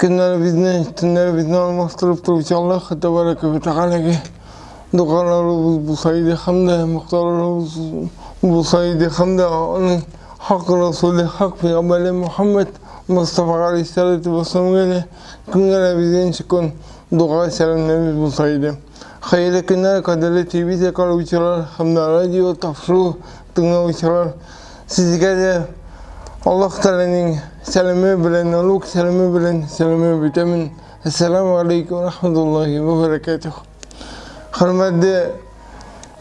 Көннәребезне, төннәребезне алмаштырып торучы Аллаһ Тәбәрәкә вә Тәгаләгә дугаларыбыз булса иде һәм дә мактауларыбыз булса иде һәм дә аның хак Расуле, хак пәйгамбәре Мөхәммәд Мостафа галәйһиссәләтү вәссәламгә дә көнгә дә безгә ничек көн дуга сәламнәребез булса иде. Хәерле көннәр, кадерле телевизия караучылар һәм радио тапшыру тыңлаучылар. Сезгә дә Аллаһ Тәгаләнең сәламе белән, Алук сәламе белән сәламе битәмен. Ассаламу алейкум ва рахматуллахи ва баракатух. Хөрмәтле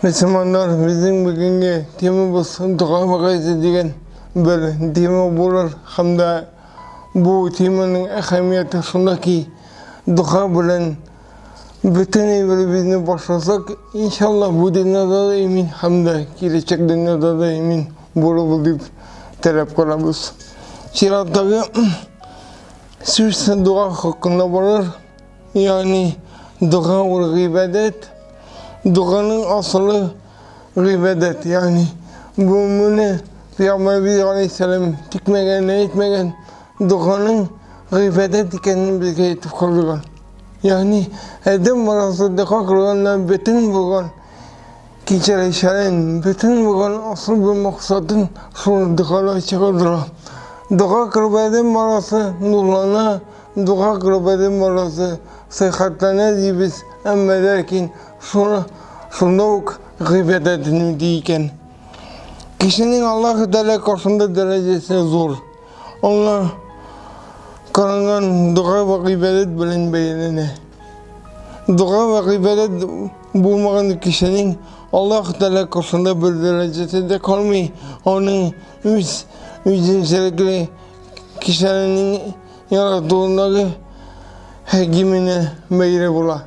мөселманнар, безнең бүгенге темабыз дога вагыйзе дигән бер тема булыр һәм дә бу теманың әһәмияте шунда ки, дога белән Бөтен әйберебезне башласак, иншалла, бу дөньяда да имин һәм дә киләчәк дөньяда да имин булырбыз дип теләп калабыз. Чираттагы сүз дога хакында булыр, ягъни дога ул гыйбадәт, доганың асылы гыйбадәт, ягъни бу моны Пәйгамбәрбез алейһиссәлам тикмәгән, әйтмәгән, доганың гыйбадәт икәнен безгә әйтеп калдырган. Ягъни, адәм баласы дәкъыйк районына бөтен булган кичерешләрен, бөтен булган асыл бер максатын шул догалар чагылдыра. Дога кылып адәм баласы нурлана, дога кылып адәм баласы сыйхатлана дибез, әмма ләкин шуны шунда ук гыйбадәт инде икән. Кешенең Аллаһы Тәгалә каршында дәрәҗәсе зур. Аңа каранган дога ва гыйбадәт белән бәяләнә. Дога ва гыйбадәт булмаган кешенең Аллаһ Тәгалә каршында бер дәрәҗәсе дә калмый, аның үз үзенчәлекле кешеләрнең яратуындагы хәкименә бәйле була.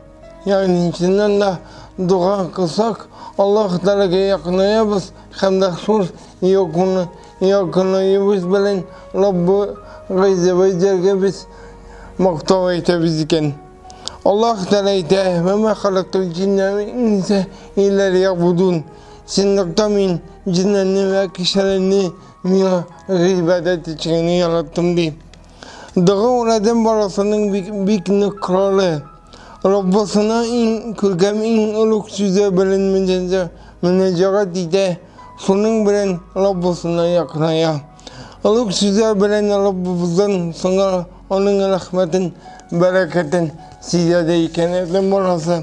Ягъни, чыннан да дога кылсак, Аллаһ Тәгаләгә якынаябыз һәм дә шул якын якынаебыз белән Раббы Гайза ва Җәлгә без мактау әйтәбез икән. Аллаһ Тәгалә әйтә, «Ва ма халактул җинна вал инса илля лиябудун». Чынлыкта мин җеннәрне вә кешеләрне миңа гыйбадәт итү өчен генә яраттым ди. Дога ул адәм баласының бик, бик нык коралы. Раббысына иң күркәм, иң олуг сүзе белән мөнәҗәгать итә, шуның белән Раббысына якыная. Олуг сүзе белән Раббыбыздан соңа аның рәхмәтен, бәрәкәтен сизә дә икән адәм баласы.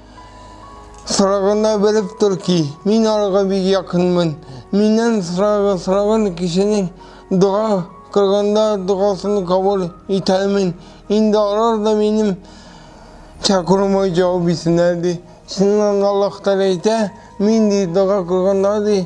Сорагына белеп тор ки, мин аларга бик якынмын. Миннән сорагы, сораган кешенең дога кылганда догасын кабул итәмен. Инде алар да минем чакыруыма җавап итсеннәр ди. Чыннан Аллаһ Тәгалә әйтә, мин ди дога кылганда ди,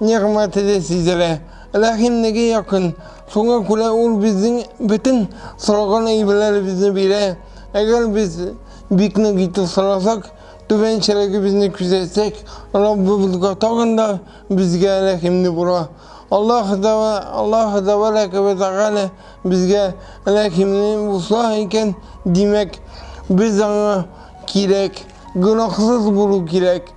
Нигъмәте дә сизелә, рәхимлеге якын. Шуңа күрә ул безнең бөтен сораган әйберләребезне бирә. Әгәр без бик нык итеп сорасак, түбәнчелегебезне күзәтсәк, Раббыбызга тагын да безгә рәхимле була. Аллаһ Тәбә, Аллаһ Тәбәрәкә вә Тәгалә безгә рәхимле булса икән, димәк, без аңа кирәк, гөнаһсыз булу кирәк.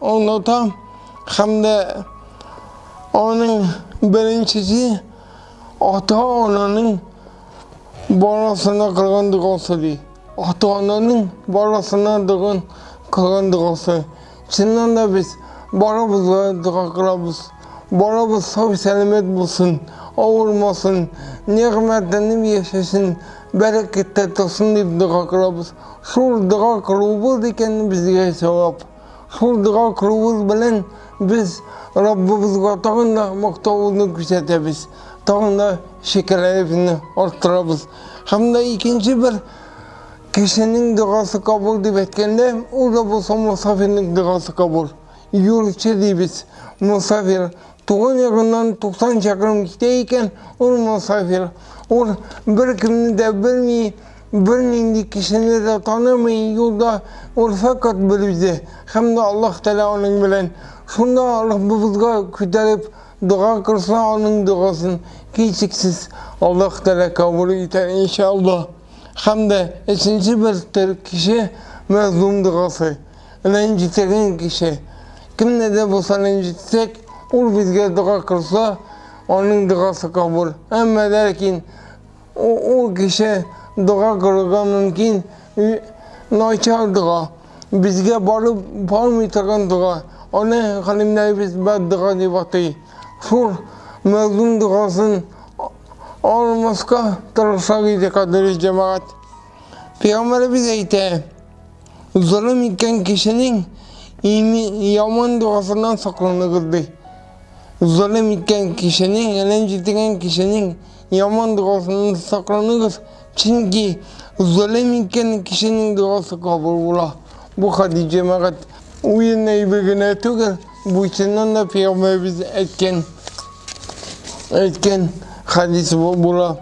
Оныта һәм дә аның беренчесе ата-ананың баласына кылган догасы ди. Ата-ананың баласына доган кылган догасы. Чыннан да без барыбызга дога кылабыз. Барыбыз сау-сәламәт булсын, авырмасын, нигъмәтләнеп яшәсен, бәрәкәттә торсын дип дога кылабыз. Шул дога кылуыбыз икән безгә җавап. Шул дога кылуыбыз белән без Раббыбызга тагын да мактавыбызны күрсәтәбез, тагын да шөкерләребезне арттырабыз. Һәм дә икенче бер кешенең догасы кабул дип әйткәндә, ул да булса мусафирның догасы кабул. Юлчы дибез, мусафир, Туган ягыннан 90 чакрым китә икән, ул мосафир. Ул беркемне дә белми, бернинди кешене дә танымый, юлда ул фәкать бер үзе һәм дә Аллаһ Тәгалә аның белән. Шунда Раббыбызга күтәреп дога кылса, аның догасын, һичшиксез, Аллаһ Тәгалә кабул итәр, иншаАллаһ. Һәм дә өченче бер төр кеше, мәзлум догасы. Рәнҗетелгән кеше. Кемне дә булса рәнҗетсәк, ул безгә дога кылса, аның догасы кабул. Әмма ләкин ул кеше дога кылырга мөмкин начар дога, безгә барып бармый торган дога. Аны галимнәребез бәддога дип атый. Шул мәзлум догасын Алмаска тырыша иде кадерле җәмәгать. Пәйгамбәребез әйтә, золым иткән кешенең яман догасыннан сакланыгыз ди. Золым иткән кешенең, әлем җитегән кешенең яман догасыннан сакланыгыз, чөнки золым иткән кешенең догасы кабул була. Бу хәдис җәмәгать уен әйбе генә түгел. Бу чыннан да пәйгамбәребез әйткән әйткән хәдис була.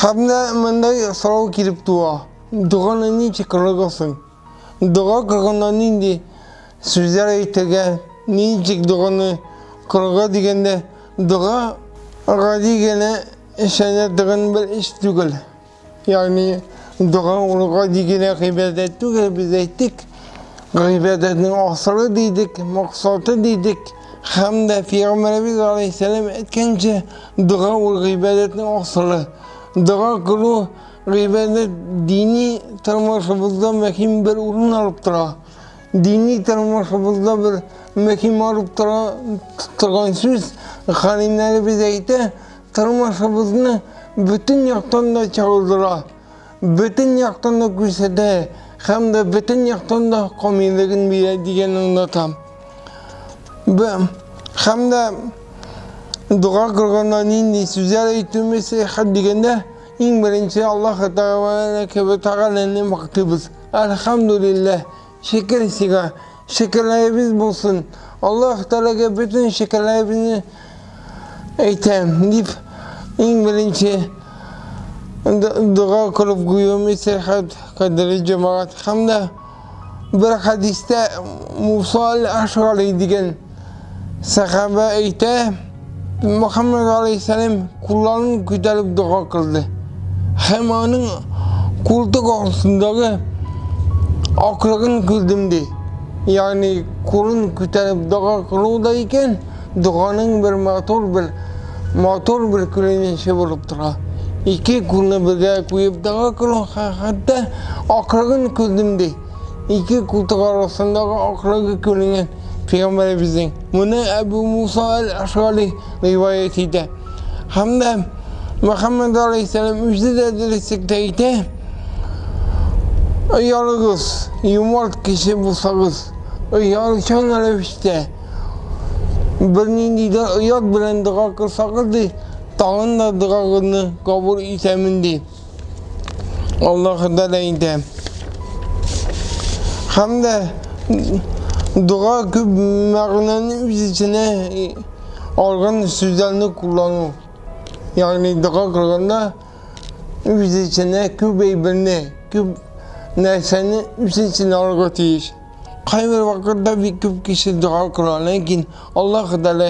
Һәм дә мондай сорау килеп туа. Доганы ничек кылгансың? Дога кылганда нинди сүзләр әйтергә, ничек доганы кылырга дигәндә, дога гади генә эшләнә торган бер эш түгел. Ягъни дога урынга дигенә гыйбадәт түгел, без әйттек. Гыйбадәтнең асылы дидек, максаты дидек. Һәм дә Пәйгамбәребез алейһиссәлам әйткәнчә, дога ул гыйбадәтнең асылы. Дога кылу гыйбадәт дини тормышыбызда мөһим бер урын алып тора. Дини тормышыбызда бер мөһим алып тора торган сүз, хәлимнәребез әйтә, Тормышыбызны бөтен яктан да чагылдыра, бөтен яктан да күрсәтә һәм дә бөтен яктан да камиллеген бирә дигәнне аңлатам. Һәм дә дога кылганда нинди сүзләр әйтүемез сәяхәт дигәндә иң беренче Аллаһ Тәгаләне Тәгаләне мактыйбыз. Әлхәмдүлилләһ, Шөкер сиңа, шөкерләребез булсын. Аллаһ Тәгаләгә бөтен шөкерләребезне әйтәм, дип иң беренче дога кылып куюымны сәхәт кадерле җәмәгать һәм дә бер хәдистә Муса аль-Ашгари дигән Сәхабә әйтә, Мөхәммәд алейхиссәлам кулларын күтәреп дога кылды. Һәм аның култык астындагы аклыгын күрдем ди. Ягъни кулын күтәреп дога кылу да икән, доганың бер матур бер матур бер күренеше булып тора. Ике кулны бергә куеп дога кылу хәтта аклыгын күрдем ди. Ике култык арасындагы акрыгы күренгән пәйгамбәребезнең. Моны Әбу Муса әл-Ашгари риваять итә. Һәм дә Мөхәммәд алейһиссәлам үзе дә дөреслеккә әйтә. Оялыгыз, юмарт кеше булсагыз, оялчан рәвештә бернинди дә оят белән дога кылсагыз, ди, тагын да догагызны кабул итәмен, ди. Аллаһыдан әйтә. Һәм дә дога күп мәгънәне үз эченә алган сүзләрне куллану. Ягъни дога кылганда үз эченә күп әйберне, күп нәрсәне үз эченә алырга тиеш. Кайбер вакытта бик күп кеше дога кыла, ләкин Аллаһ Тәгалә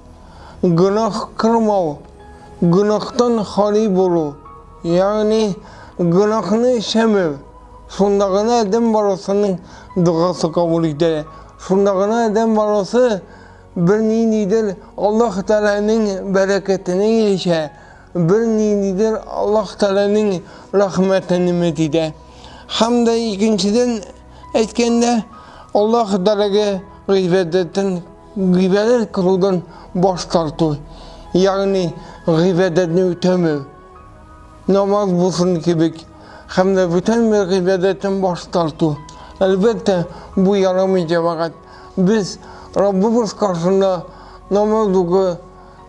Гөнаһ кылмау, гөнаһтан хали булу, ягъни гөнаһны эшләмәү. Шунда гына адәм баласының догасы кабул ителә. Шунда гына адәм баласы берниндидер Аллаһ Тәгаләнең бәрәкәтенә ирешә, берниндидер Аллаһ Тәгаләнең рәхмәтен өмет итә. Һәм дә икенчедән әйткәндә, Аллаһ Тәгаләгә гыйбадәтен Гыйбадәт кылудан баш тарту, ягъни гыйбадәтне үтәмәү, намаз булсын кебек, һәм дә бүтән бер гыйбадәттән баш тарту. Әлбәттә, бу ярамый, җәмәгать. Без Раббыбыз каршында намаз уку,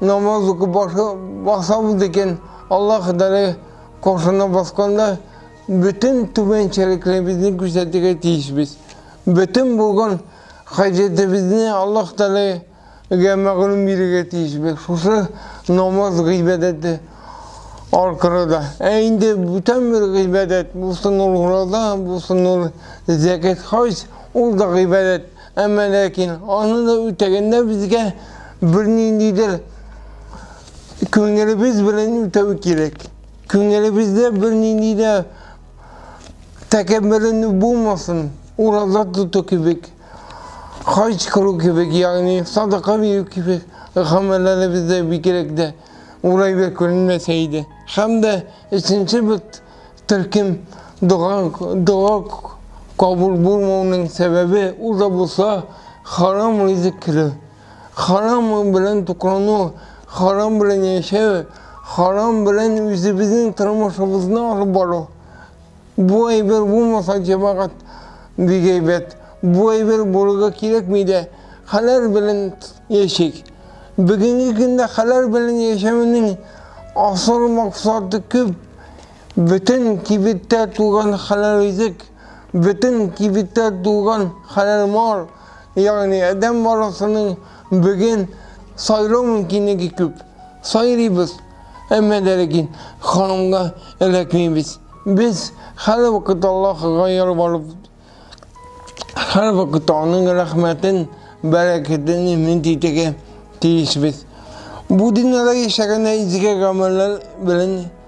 намаз уку башы басабыз икән, Аллаһ Тәгалә каршына басканда бөтен түбәнчелекләребезне күрсәтергә тиешбез. Бөтен булган Хаҗәтебезне Аллаһ Тәгаләгә мәгълүм бирергә тиешбез, шушы намаз гыйбадәте аркыры да. Ә инде бүтән бер гыйбадәт, булсын ул ураза, булсын ул зәкят, хаҗ, ул да гыйбадәт, әмма ләкин аны да үтәгәндә безгә берниндидер күңелебез белән үтәү кирәк. Күңелебездә бернинди дә тәкәбберенү булмасын, ураза тоту кебек, хаҗ кылу кебек, ягъни садака бирү кебек гамәлләребездә бигрәк дә урайлы күренмәсә иде. Һәм дә өченче бер төркем дога, дога кабул булмауның сәбәбе ул да булса харам ризык керү. Харам белән туклану, харам белән яшәү, харам белән үзебезнең тормышыбызны алып бару. Бу әйбер булмаса, җәмәгать бик әйбәт. Бу әйбер булырга кирәкми дә. Хәләл белән яшик. Бүгенге көндә хәләл белән яшәүнең асыл максаты күп. Бөтен кибеттә туган хәләл ризык. Бөтен кибеттә тулган хәләл мал, ягъни адәм баласының биген сайлау мөмкинлеге күп. Сайрыйбыз, әмма дә ләкин ханымга эләкмибез. Без һәрвакыт Аллаһыга ялварып, һәрвакыт Аның рәхмәтен, бәрәкәтен өмет итәргә тиешбез. Бу дөньяда яшәгәндә изге гамәлләр белән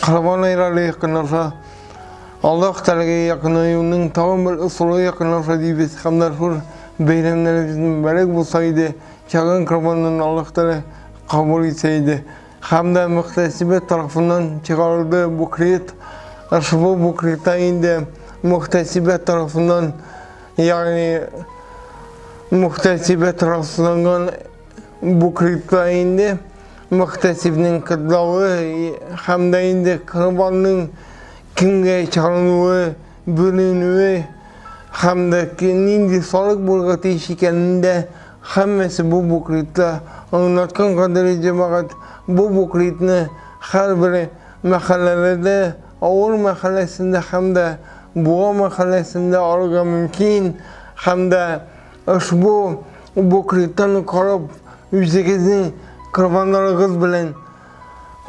Корбан әйрәле якынлаша. Аллаһ Тәгаләгә якынаюның тагын бер ысулы якынлаша дибез. Һәм дә шул бәйрәмнәребез мөбарәк булса иде, чагын корбаннан Аллаһ Тәгалә кабул итсә иде. Һәм дә мөхтәсибе тарафыннан чыгарылды бу крит. Ошбу бу крита инде мөхтәсибе тарафыннан, ягъни мөхтәсибе тарафланган Бу клипта инде Мөхтәсибнең кытлавы һәм дә инде Корбанның кемгә чалынуы, бүленүе һәм дә нинди салык булырга тиеш икәнен дә һәммәсе бу буклитта аңлаткан кадерле җәмәгать. Бу буклитны һәрбер мәхәлләләрдә, авыл мәхәлләсендә һәм дә Буа мәхәлләсендә алырга мөмкин һәм дә Ошбу буклетны карап, үзегезнең корбаннарыгыз белән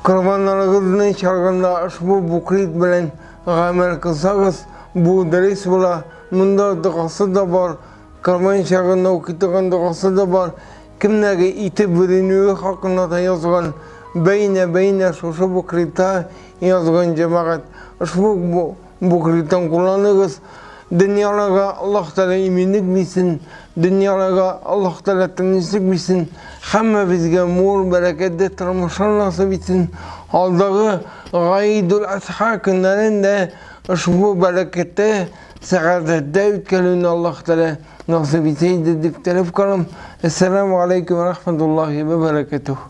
корбаннарыгызны чарганда ошбу буклет белән гамәл кылсагыз, бу дөрес була. Монда догасы да бар, корбан чагында укытылган догасы да бар, кемнәге ите бүленүе хакында да язган, бәйнә-бәйнә шушы буклетта язган, җәмәгать. Ошбу Бу кредиттан кулланыгыз, дөньяларга Аллаһ Тәгалә иминлек бирсен, дөньяларга Аллаһ Тәгалә тынычлык бирсен, һәммәбезгә мул, бәрәкәтле тормышлар насыйп итсен. Алдагы Гайдул Асха көннәрен дә ошбу бәрәкәттә, сәгадәттә үткәрүне Аллаһ Тәгалә насыйп итсә иде дип теләп калам. Әссәламү галәйкүм вә рахмәтуллаһи вә бәрәкәтүһ.